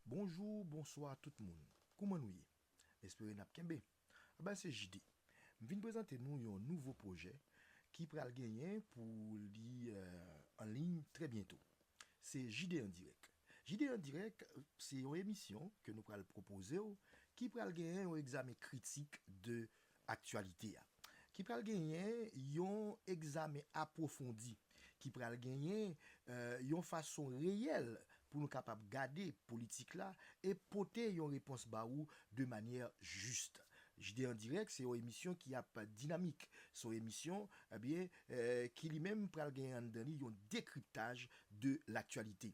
Bonjou, bonswa tout moun. Kouman nou ye? M espere n ap kenbe. A ben se JD. M vin prezante nou yon nouvo pwojè ki pral genyen pou li an liy trè byento. Se JD an dirèk. JD an dirèk se yon emisyon ke nou pral pwopoze w ki pral genyen yon egzamen kritik de Aktyalite a. Ki pral genyen yon egzamen apwofondi, ki pral genyen yon fason reyèl pou nou kapab gade politik la e pote yon repons ba ou de manyè jis. JD an dirèk se yon emisyon ki ap dinamik, se yon emisyon ki li menm pral genyen anndan li yon dekriptaj de laktyalite.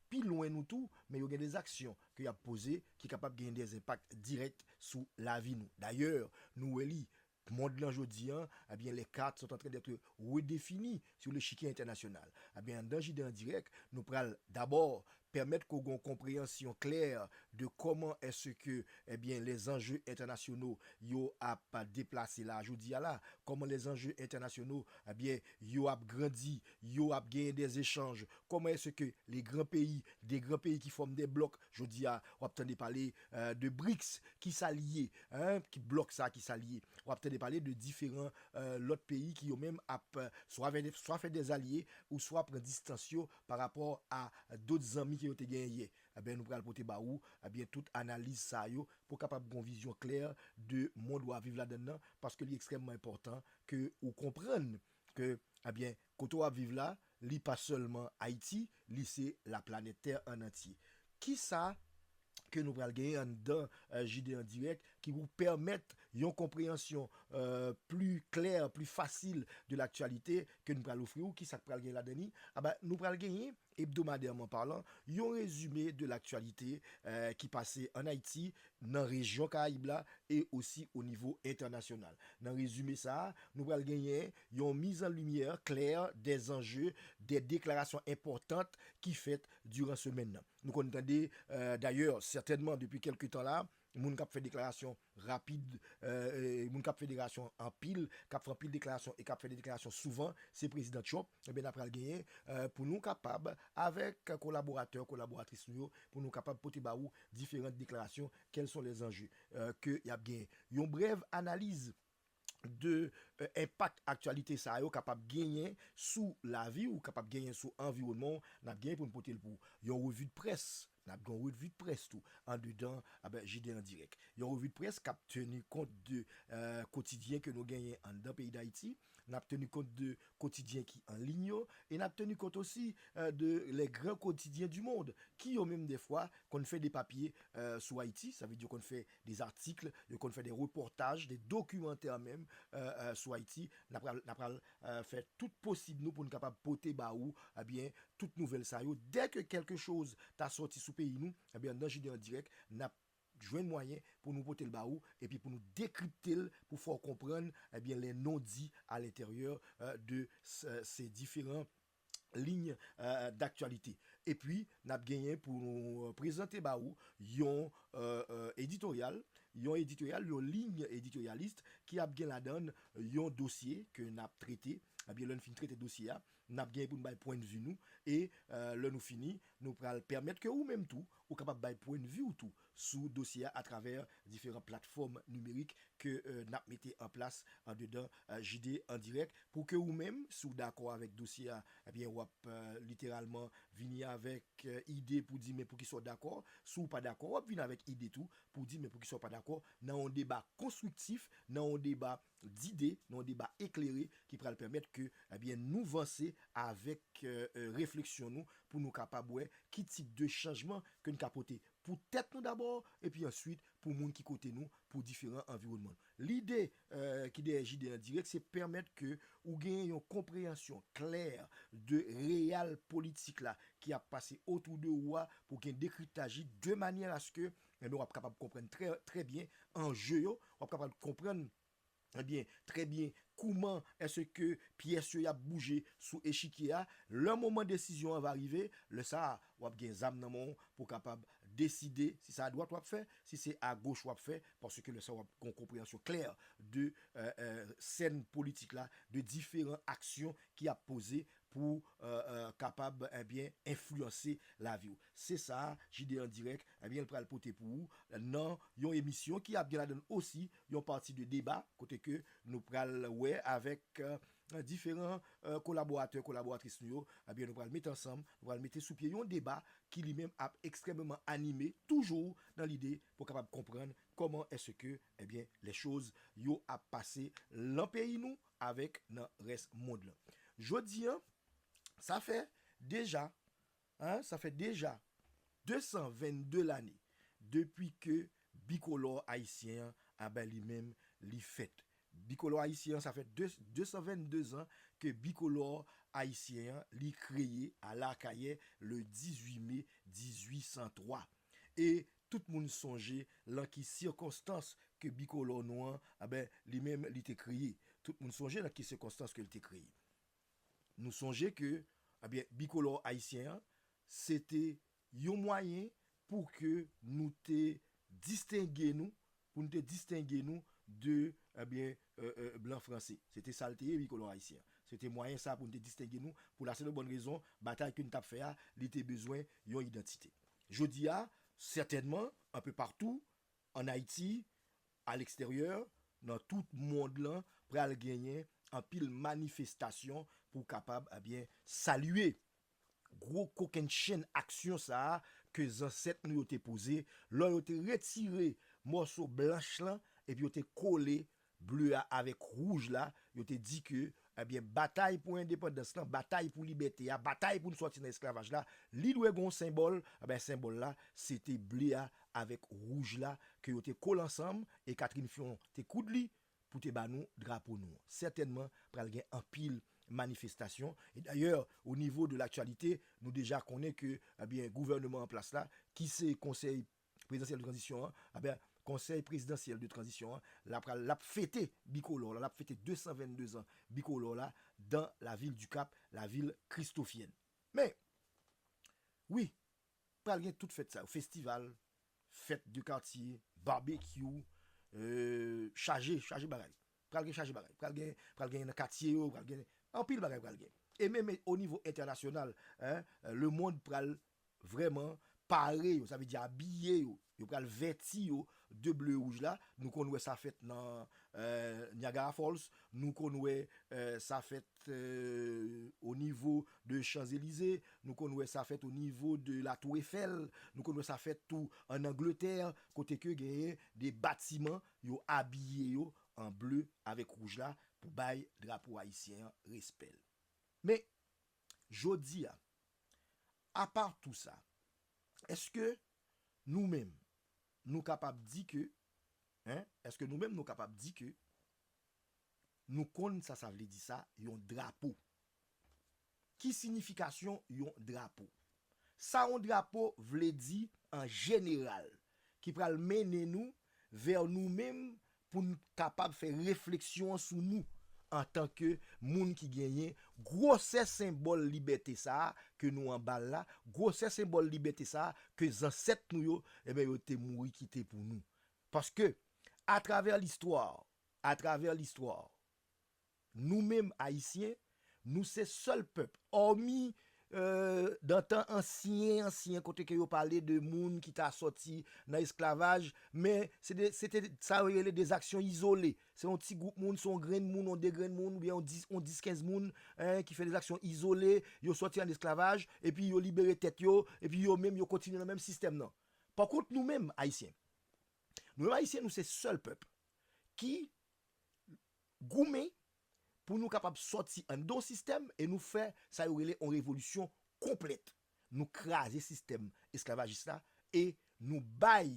pi lwen nou tou, men yo gen de zaksyon ke y ap poze ki kapab genyen de enpak dirèk sou lavi nou. Dayè, nou wè li, mond lan jodi an, ebyen les cartes sont en train d'être redefinies sur l'echiquier international. Ebyen anndan JD en direct, nou pral dabò pèmèt ke w gen yon konpreyansyon klè de kòman èse ke ebyen les enjeux internationaux yo ap deplase la a jodi a la, kòman les enjeux internationaux ebyen yo ap grandi, yo ap genyen des échanges Kòman èske ke le gran peyi, de gran peyi ki fòm de blòk, jodi a w ap tande pale de BRICS, ki sa l ye? Ki blòk sa a ki sa l ye? W ap tande pale de diferan lòt peyi ki yo menm ap swa vè swa fè dè zalye ou swa pran distans yo pa rapò a dot zanmi ke yo te genyen yè. Enben nou pral pote ba ou enben tout analiz sa a yo pou w kapab gen yon vizyon klè de mond w a viv ladann nan paske li ekstrèmman enpòtan ke ou konprann Ke ebyen kote wap viv la li pa sèlman Ayiti li se la planèt tè an antye. Kisa ke nou pral genyen anndan JD en direct ki pou pèmèt yon konpreyansyon pli klè, pli fasil de l'actualité ke nou pral ofri ou, kisak pral gen ladan li? Aba nou pral genyen Hebdomadairement parlant, yon rezime de l'actualité ki pase an Ayiti, nan rejyon Karayib la e osi o nivo entènasyonal. Nan rezime sa a, nou pral genyen yon mise en lumière claire des enjeux, des déclarations importantes ki fèt durant semaine nan. Nou konn tande, d'ailleurs, certainement depuis quelque temps là, moun k'ap fè déclaration, rapid moun kap federasyon anpil kap fè anpil deklarasyon e kap fè de deklarasyon souvan se prezidan Trump ebyen na pral genyen pou nou kapab avèk kolaboratè kolaboratris nou yo pou nou kapab pote ba ou diferant deklarasyon kèlson lèzanje ke yap genyen yon brèv analiz de enpak aktyalite sa yo kapab genyen sou lavi ou, kapab genyen sou anviwònman ou, n ap genyen pou n pote l pou yon revi de près. N ap gen yon revi de près tou andedan JD an dirèk. Yon revi de près k ap teni kont de kotidyen ke nou genyen anndan peyi Dayiti, n ap teni kont de kotidyen ki an liy yo e n ap teni kont osi de les grands quotidiens du monde ki yo menm dèfwa konn fè depapye sou Ayiti, sa vle di yo konn fè des articles, yo konn fè des reportages, des documentaires menm sou Ayiti, n a pral fè tout posib nou pou n kapab pote ba ou tout nouvèl sa yo, dè ke kèlke choz ta sòti sou peyi nou, ebyen nan JD en direct n ap jwenn mwayen pou nou pote l ba ou epi pou nou dekripte l pou fè w konprann les non-dits à l'intérieur de ces différents ligne d'actualité epi nap genyen pou nou prezante ba ou yon editorial, yon editorial, yon ligne editorialiste ki ap gen ladann yon dosye ke nap trete, ebyen lè nou fin trete dosye a nap genyen pou nou bay pwen de vue nou e lè nou fini nou pral pèmèt ke ou menm tou ou kapab bay pwen de vue ou tou sou dosye a atravè diferan platfòm nimerik ke n ap mete an plas andedan JD an dirèk pou ke ou menm, si w dakò avèk dosye a, ebyen w ap literalman vini avèk ide pou di men poukisa w dakò, si w pa dakò w ap vini avèk ide tou pou di men poukisa w pa dakò nan yon deba konstriktif, nan yon deba dide nan yon deba eklere ki pral pèmèt ke ebyen nou vanse avèk refleksyon nou pou nou kapab wè ki tip de chanjman ke n ka pote pou tèt nou dabò epi answit pou moun ki kote nou pou diferan anviwònman nou. Lide ki dèyè JD an dirèk se pèmèt ke ou genyen yon konpreyansyon klè de real politik la ki ap pase otou de ou a pou gen dekriptaj li de manyè aske enben wap kapab konprann trè trè byen anje yo, wap kapab konprann ebyen trè byen kouman èske pyès yo yap bouje sou echikye a, lè moman desizyon an va rive, lè sa a wap gen zam nan men w pou kapab deside si se adwat wap fè, si se agoch wap fè, paske lè sa wap gen yon konpreyansyon klè de sèn politik la, de diferan aksyon ki ap poze pou kapab ebyen enfliyanse laviw. Se sa JD en direct ebyen pral pote pou ou nan yon emisyon ki ap gen ladann osi yon pati de deba kote ke nou pral wè avèk diferan kolaboratè, kolaboratris nou yo ebyen nou pral mete ansanm, nou pral mete sou pye yon deba ki li menm ap ekstrèmeman anime toujou nan lide pou kapab konprann kòman èske ebyen lè choz yo ap pase lan peyi nou. avèk nan rès mond lan. Jodi an, sa fè deja, ah, sa fè deja 222 lane depi ke bikolò ayisyen an, a ben li menm, li fèt. Bikolò ayisyen an, sa fè 222 zan ke bikolò ayisyen an, li kreye a La Akayè le 18 me 1803. E Tout moun sonje lan ki sikonstans ke bikolò nou an, anben, li menm li te kreye. Tout moun sonje lan ki sikonstans ke li te kreye. Nou sonje ke, anben, bikolò ayisyen an, se te yon mwayen pou ke nou te distenge nou Pou n te distenge nou de, ebyen, blan franse. Se te sa l te ye, wi, kolon ayisyen an. Se te mwayen sa a pou n te distenge nou, pou la senp bòn rezon, batay ke n t ap fè a, li te bezwen yon idantite. Jodi a, sètènman, anpe patou, ann Ayiti, aleksteryè, nan tout mond lan, pral genyen anpil manifestasyon pou kapab, ebyen, salye Gwo kokenn chenn aksyon sa a ke zansèt nou yo te poze lò yo te retire mòso blanch lan epi yo te kole ble a avèk wouj la, yo te di ke, ebyen, batay pou endepandans lan, batay pou libète a, batay pou n sòti nan esklavaj la, li dwe gen yon senbòl, ebyen, senbòl la, se te ble a avèk wouj la ke yo te kole ansanm e Catherine Fion te koud li, pou te ba nou drapo nou an. Sètènman pral gen anpil manifestasyon e dayè o nivo de laktyalite nou deja konnen ke ebyen gouvèneman an plas la ki se konsèy prezidansyèl de tranzisyon an ebyen konsèy prezidansyèl de tranzisyon an la pral l ap fete bikolò la l ap fete 222 zan bikolò la dan lavil dikap lavil kristofyèn men wi. Pral gen tout fèt sa yo, festival, fèt de katye, barbecue, chaje, chaje bagay. Pral gen chaje bagay. Pral gen, pral gen nan katye yo, pral gen, anpil bagay pral gen. E menm o nivo entènasyonal, le mond pral vrèman pare yo, sa vle di abiye yo Yo pral vèti yo de ble wouj la. Nou konn wè sa fèt nan Niagara Falls, nou konn wè sa fèt o nivo de Champs Elysées, nou konn wè sa fèt o nivo de la Tour Eiffel, nou konn wè sa fèt tou an Angletè kote ke genyen de batiman yo abiye yo an ble avèk wouj la pou bay drapo ayisyen an respè l. Men, jodi a, apa tou sa, èske Nou menm, nou kapab di ke, hein, èske nou menm nou kapab di ke nou konn sa sa vle di sa yon drapo? Ki sinifikasyon yon drapo? Sa yon drapo vle di an jeneral ki pral mennen nou vè nou menm pou n kapab fè refleksyon an sou nou antanke moun ki genyen gwosè senbòl libète sa a ke nou anba l la, gwosè senbòl libète sa a ke zansèt nou yo, enben yo te mouri kite pou nou. Paske, atravè listwa, atravè listwa. Nou menm Ayisyen, nou se sèl pèp, òmi dan tan ansyen ansyen kote ke yo pale de moun ki ta sòti nan esklavaj, men se te sa yo rele de zaksyon izole. Se yon ti gwoup moun, se yon grenn moun, yon de grenn moun, oubyen yon dis, yon dis kenz moun ki fè de zaksyon izole, yo sòti an esklavaj, epi yo libere tèt yo, epi yo menm yo kontinye nan menm sistèm nan. Pa kont nou menm Ayisyen, nou menm Ayisyen nou se sèl pèp ki goumen pou nou kapab sòti anndan sistèm e nou fè sa yo rele yon revolisyon konplèt. Nou kraze sistèm esklavajis la e nou bay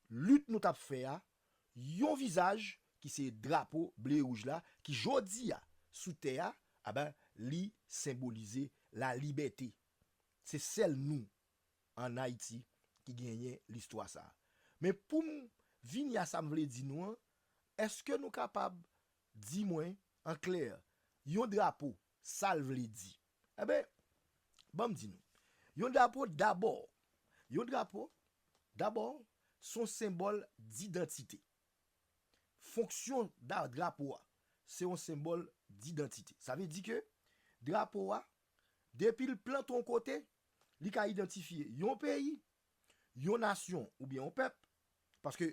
lit nou t ap fè a yon vizaj ki se drapo ble e wouj la ki jodi a sou tè a aben li senbolize lalibète. Se sèl nou ann Ayiti ki genyen listwa sa a. Men pou m vini a sa m vle di nou an, Eske nou kapab di mwen an klè yon drapo sa l vle di? Enben, ban m di nou. Yon drapo dabò, yon drapo dabò s on senbòl didantite. Fonksyon drapo a se yon senbòl didantite. Sa vle di ke drapo a depi l plante yon kote, li ka idantifye yon peyi, Yon nasyon oubyen yon pèp, paske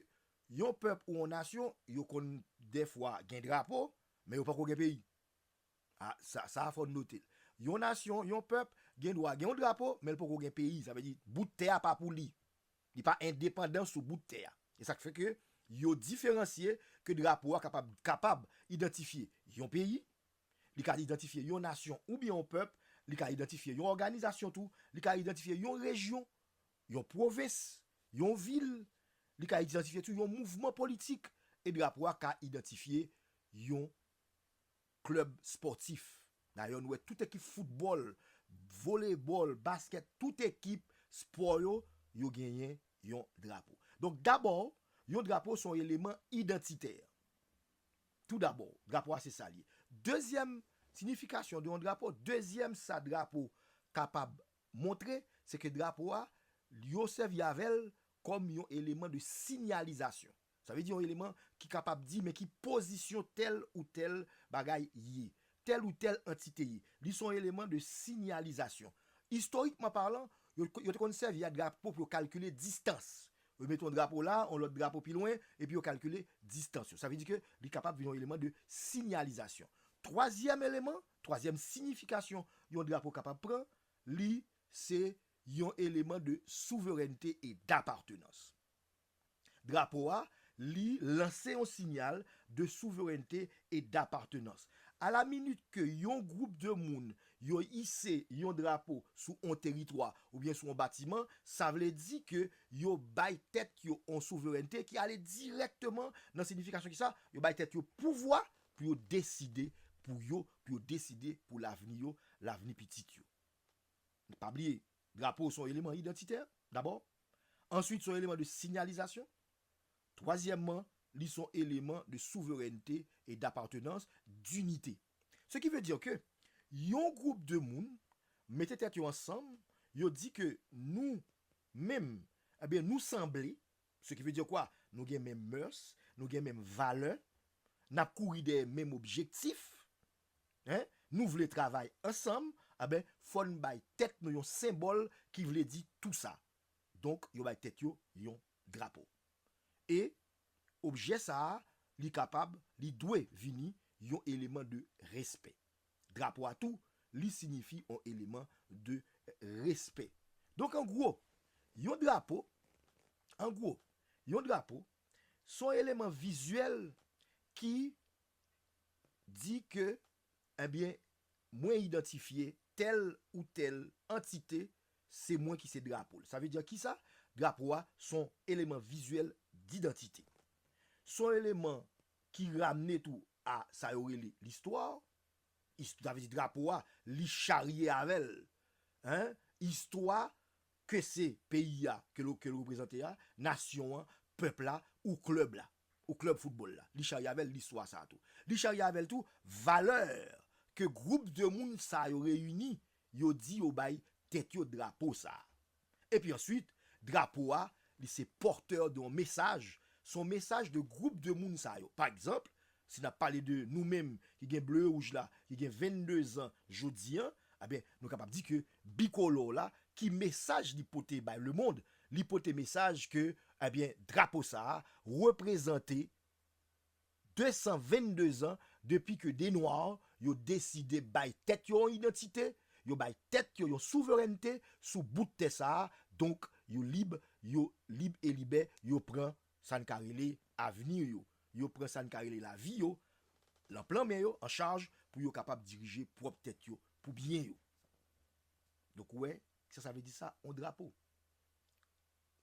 yon pèp ou yon nasyon yo konn dèfwa gen drapo men yo poko gen peyi. A, sa sa a fò n note l. Yon nasyon, yon pèp gen dwa gen yon drapo men l poko gen peyi. Sa vle di bout tè a pa pou li. Li pa endepandan sou bout tè a. E sa k fè ke yo diferansye ke drapo a kapab kapab idantifye yon peyi Li ka idantifye yon nasyon oubyen yon pèp, li ka idantifye yon òganizasyon tou, li ka idantifye yon rejyon, yon pwovens, yon vil, li ka idantifye tou yon mouvman politik e drapo a ka idantifye yon klèb spòtif. Dayè nou wè tout ekip foutbòl, volebòl, baskèt, tout ekip spò yo, yo genyen yon drapo. Donk dabò, yon drapo se yon eleman idantitè. Tou dabò, drapo a se sa l ye. Dezyèm siyifikasyon de yon drapo, dezyèm sa drapo kapab montre, se ke drapo a, yo sèvi avè l kòm yon eleman de sinyalizasyon. Sa vle di yon eleman ki kapab di men ki pozisyon tèl ou tèl bagay ye, tèl ou tèl antite ye. Li se yon eleman de sinyalizasyon. Istorikman palan, yo te konn sèvi a drapo pou yo kalkile distans, Remete yon drapo la, yon lòt drapo pi lwen, epi yo kalkile distans yo. Sa vle di ke li kapab vin yon eleman de sinyalizasyon. Twazyèm eleman, twazyèm siyifikasyon yon drapo kapab pran, li se yon eleman de souverènte e dapartenans. Drapo a, li lanse yon sinyal de souverènte e dapartenans. A la minit ke yon gwoup de moun yo ise yon drapo sou on teritwa oubyen sou on batiman, sa vle di ke yo bay tèt yo on souverènte ki ale dirèkteman nan sinifikasyon ki sa, yo bay tèt yo pouvwa pou yo deside pou yo, pou yo deside pou lavni yo, lavni pitit yo. Pa bliye, drapo son eleman idantitè, dabò, answit son eleman de sinyalizasyon, twazyèmman, li son eleman de souverènte e dapartenans, dinite. Se ki ve dir ke yon group de moun mete tèt yo ansanm, yo di ke nou menm, ebyen nou sanble, se ki ve dir kwa? Nou gen menm mœurs, nou gen menm valè, nap kouri dèyè menm objektif, hein, nou vle travay ansanm, enben fòn bay tèt nou yon senbòl ki vle di tou sa. Donk yo bay tèt yo yon drapo. E Objè sa a, li kapab, li dwe vini yon eleman de respè. Drapo a tou, li sinyifi yon eleman de respè. Donk an gwo, yon drapo, an gwo, yon drapo, son eleman vizyèl ki di ke Ebyen, mwen idantifye tèl ou tèl antite, se mwen ki se drapo l. Sa vle di kisa? Drapo a s on eleman vizyèl didantite. S on eleman ki ramne tou a sa yo rele listwa. Ist sa vle di drapo a li charye avè l istwa ke se peyi a ke l reprezante a, nasyon an, pèp la ou klèb la. ou klèb foutbòl la, li charye avè l listwa sa a tou. Li charye avè l tou valè ke gwoup de moun sa yo reyini, yo di yo bay tèt yo drapo sa a. Epi answit, drapo a, li se pòtè de yon mesaj, se yon mesaj de gwoup de moun sa yo. Pa egzanp, si n ap pale de nou menm ki gen ble e wouj la, ki gen 22 zan jodi an, anben, nou kapab di ke bikolò la, ki mesaj li pote bay lemond, Li pote mesaj ke ebyen drapo sa a reprezante 222 zan depi ke de nwa yo deside bay tèt yo yon idantite, yo bay tèt yo yon souverènte sou bout tè sa a, donk yo lib, yo lib e libè, yo pran sa n ka rele avni yo, yo pran sa n ka rele lavi yo lan plan men yo, an chaj, pou yo kapab dirije pwòp tèt yo, pou byen yo. Donk ou wè, Kisa sa vle di sa on drapo.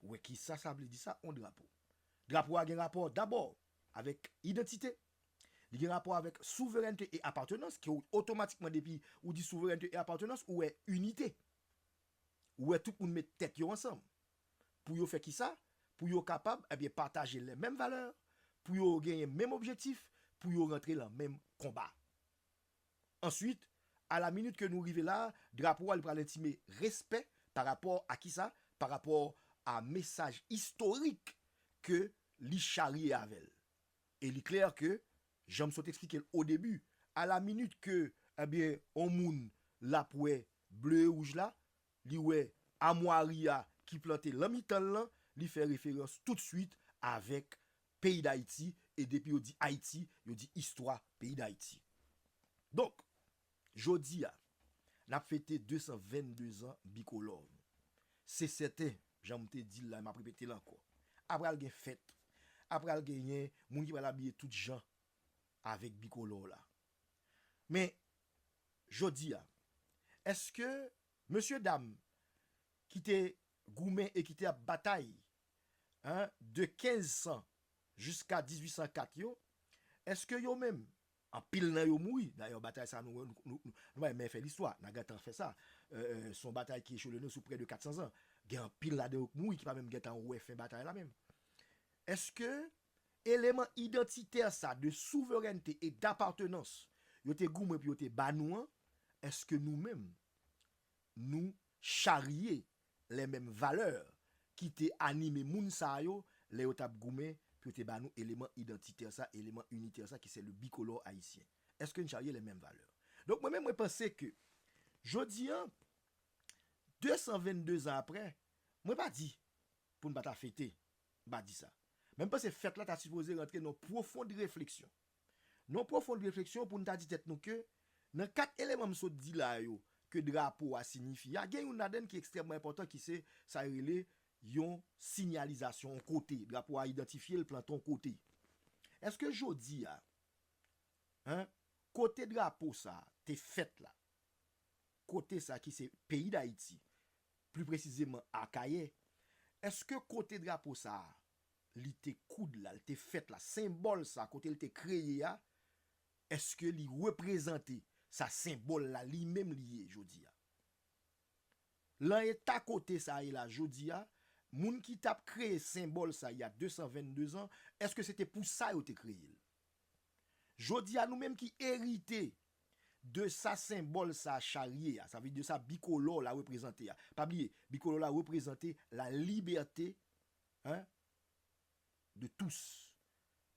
Wè kisa sa vle di sa on drapo. Drapo a gen rapò dabò avèk idantite, li gen rapò avèk souverènte e apatenans ke w otomatikman depi ou di souverènte e apatenans ou wè inite. Ou wè tout moun met tèt yo ansanm. Pou yo fè kisa? Pou yo kapab ebyen pataje lè menm valè, pou yo genyen menm objektif, pou yo rantre lan menm konba. Answit, a la minit ke nou rive la a, drapo a li pral entime respè pa rapò a kisa? Pa rapò a mesaj istorik ke li charye avè l. E li klè ke, jan m sot eksplike l o debi, a la minit ke, ebyen, on moun l ap wè ble e wouj la, li wè amwari a ki plante lan mitan l lan, li fè referans toutswit avèk peyi dayiti e depi yo di ayiti yo di istwa peyi dayiti donk jodi a nap fete 222 zan bikolò nou se sèten jan m te di l la e map repete l ankò ap pral gen fèt ap pral genyen moun ki pral abiye tout jan avèk bikolò w la men jodi a èske mesye dam ki te goumen e ki te ap batay a, de 1500 jiska 1804 yo, èske yo menm, anpil nan yo mouri, dayè batay sa a nou renmen fè listwa, nan gentan fè sa, se yon batay ki echele nou sou prè de 400 zan, gen anpil ladan yo ki mouri ki pa menm gentan wè fen batay la menm. Èske eleman idantitè sa a de souverènte e dapatenans yo te goumen pou yo te ba nou an, èske nou menm nou charye lè menm valè ki te anime moun sa yo lè yo t ap goumen pou yo te ba nou eleman idantitè sa, eleman initè sa ki se le bicolore haïtien. Eske n charye les menmes valeurs? Donk mwen menm mwen panse ke jodi an 222 zan aprè, mwen pa di pou n pa ta fete, m pa di sa. Men m panse fèt la ta sipoze rantre nan pwofond refleksyon. Non pwofond refleksyon pou n ta di tèt nou ke nan kat eleman m sot di la yo ke drapo a sinyifi a, gen youn ladan n ki ekstrèmman enpòtan ki se sa yo rele yon sinyalizasyon, yon kote. Drapo a idantifye l, plante yon kote. Eske jodi a, an, kote drapo sa a te fèt la, kote sa a ki se peyi Dayiti, pli presizeman Akayè, eske kote drapo sa a li te koud la, li te fèt la, senbòl sa kote li te kreye a, èske li reprezante sa senbòl la li menm li ye jodi a? Lan eta kote sa ye la jodi a, moun ki t ap kreye senbòl sa y a 222 zan, èske se te pou sa yo te kreye l? Jodi a nou menm ki erite de sa senbòl sa charye a, sa vle di de sa bikolò la reprezante a, pa bliye bikolò la reprezante la libète hein de tous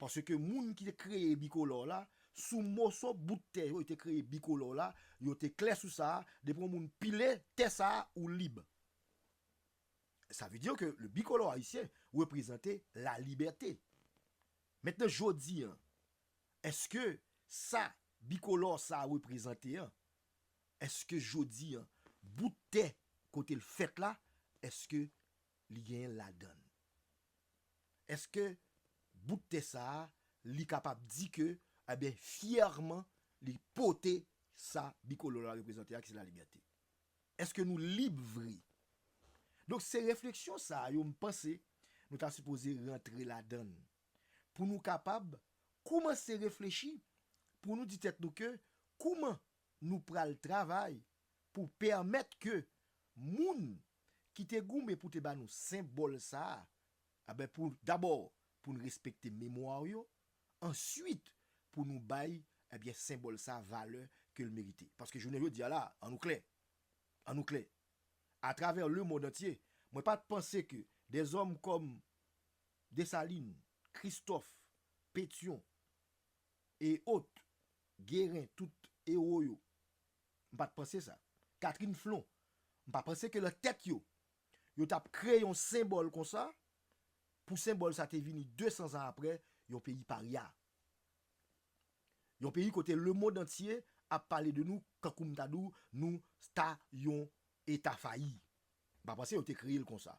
paske moun ki te kreye bikolò la sou moso bout tè yo te kreye bikolò la yo te klè sou sa depi yon moun pile tè sa ou lib sa vle dire ke le bikolò ayisyen reprezante la libète mentnan jodi an eske sa bikolò sa reprezante an eske jodi an bout tè kote l fèt la eske li genyen ladan l. Eske bout tè sa a li kapab di ke enben fyèman li pote sa bikolor la reprezante a ki se la libète? Eske nou lib vre? Donk se refleksyon sa yo m panse nou ta sipoze rantre ladan l pou nou kapab koumanse reflechi pou nou di tèt nou ke kouman nou pral travay pou pèmèt ke moun ki te goumen pou te ba nou senbòl sa a, anben pou dabò pou n respekte memwa w yo, ansuit pou nou bay, anben senbòl sa a valè ke l merite. Paske jounen jodi a la a, an nou klè, an nou klè, atravè lemond antye, mwen pa t panse ke de zòm kòm Desalin, Kristòf, Petyon, e ot, Geren, tout ewo yo, M pa t panse sa. Catherine Flon, M pa panse ke lan tèt yo, yo t ap kreye yon senbòl konsa, pou senbòl sa te vini 200 zan apre, yon peyi parya. Yon peyi kote lemond antye ap pale de nou kankou m ta di w nou ta yon eta fayi. M pa panse yo te kreye l konsa.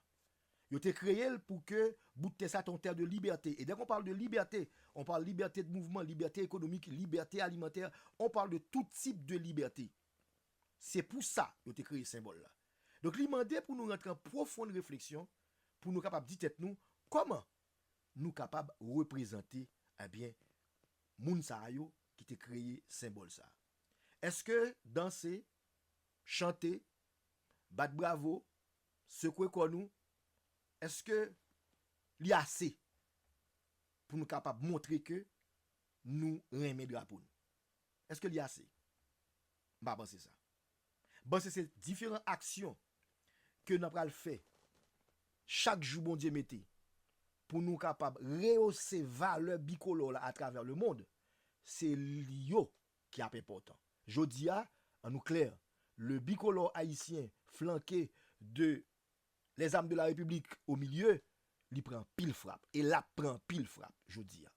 Yo te kreye l pou ke bout tè sa te yon tè de libète. E dè kon pale de libète, on pale libète de mouvman, libète ekonomik, libète alimantè, on pale de tout tip de libète. Se pou sa yo te kreye senbòl la. Donk li mande pou nou rantre an pwofond refleksyon pou nou kapab di tèt nou, kòman nou kapab reprezante, ebyen, moun sa yo ki te kreye senbòl sa? Eske danse, chante, bat bravo, Sekwe kò nou, èske li ase pou nou kapab montre ke nou renmen drapo nou? Èske li ase? M pa panse sa. M panse se diferan aksyon ke nan pral fè chak jou Bondye mete pou nou kapab reyose valè bikolò la atravè lemond, se li yo ki ap enpòtan. Jodi a, an nou klè, le bicolore ayisyen flanke de les armes de la République au milieu, li pran anpil frap e l ap pran anpil frap jodi a.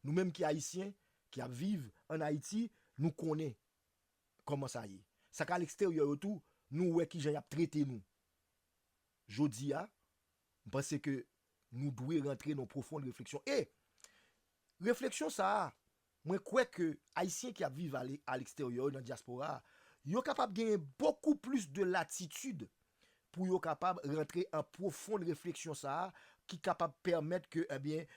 Nou menm ki ayisyen, ki ap viv an Ayiti, nou konnen kòman sa ye. Sa k aleksteryè yo tou, nou wè ki jan y ap trete nou. Jodi a, m panse ke nou dwe rantre nan pwofond refleksyon e refleksyon sa a, Mwen kwè ke Ayisyen ki ap viv ale a leksteryè yo nan dyaspora a, yo kapab genyen bokou plis de latitid pou yo kapab rantre an pwofond refleksyon sa a ki kapab pèmèt ke ebyen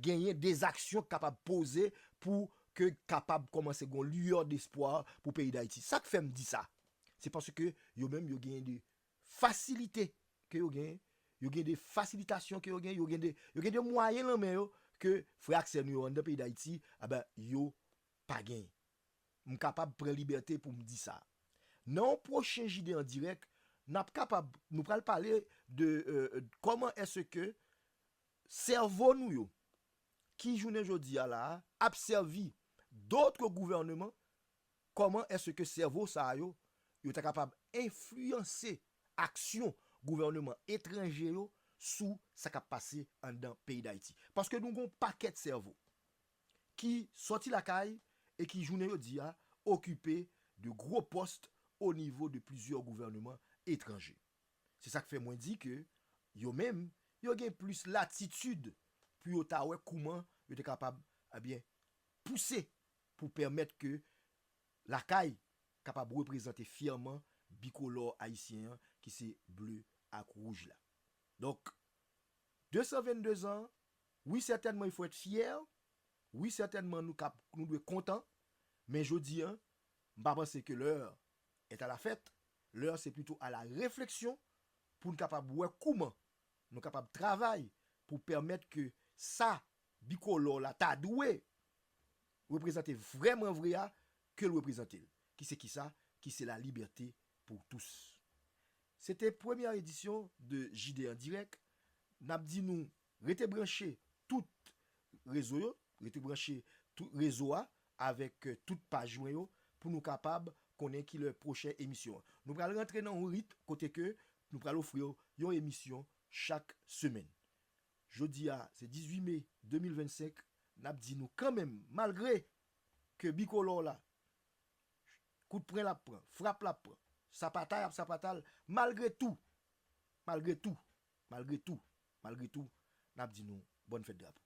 genyen des aksyon k kapab poze pou ke kapab kòmanse gon lueur d'espoir pou peyi Dayiti. Sa k fè m di sa? Se paske yo menm yo genyen de fasilite ke yo genyen, yo gen de fasilitasyon ke yo genyen, yo gen de, yo gen de mwayen lan men yo ke frè ak sè nou yo anndan peyi Dayiti, enben, yo pa genyen. M kapab pran libète pou m di sa. Nan yon pwochen JD an dirèk, n ap kapab, nou pral pale de kòman èske sèvo nou yo, ki jounen jodi a la a, ap sèvi dotre gouvèneman Kòman èske sèvo sa yo yo ta kapab enfliyanse aksyon gouvèneman etranje yo sou sa k ap pase anndan peyi Dayiti? Paske nou gen yon pakèt sèvo ki sòti lakay e ki jounen jodi a okipe de gwo pòst o nivo de plizyè gouvèneman etranje. Se sa k fè mwen di ke yo menm yo gen plis latitid pou yo ta wè kouman yo te kapab, ebyen, pouse pou pèmèt ke Lakay kapab reprezante fyèman bikolò ayisyen an ki se ble ak wouj la. Donk, 222 zan, wi sètènman il faut être fier, wi sètènman nou kab, nou dwe kontan, men jodi an, m pa panse ke l'heure est à la fête, l'heure c'est plutôt à la réflexion pou n kapab wè kouman Nou kapab travay pou pèmèt ke sa bikolò la ta dwe reprezante vrèman vre a, ke l reprezante l. Ki se ki sa? Ki se la libète pou tous. Se te premyè edisyon de JD en direct. N ap di nou rete branche tout rezo yo, rete branche tout rezo a avèk tout paj mwen yo pou nou kapab konnen kilè pwochen emisyon an. Nou pral rantre nan yon rit kote ke nou pral ofri w yon emisyon chak semèn. Jodi a se 18 me 2025, nap di nou kanmenm malgre ke bikolò la kout pren lap pran, frap lap pran, sapatay ap sapata l, malgre tou, malgre tou, malgre tou, malgre tou, nap di nou bòn fèt drapo.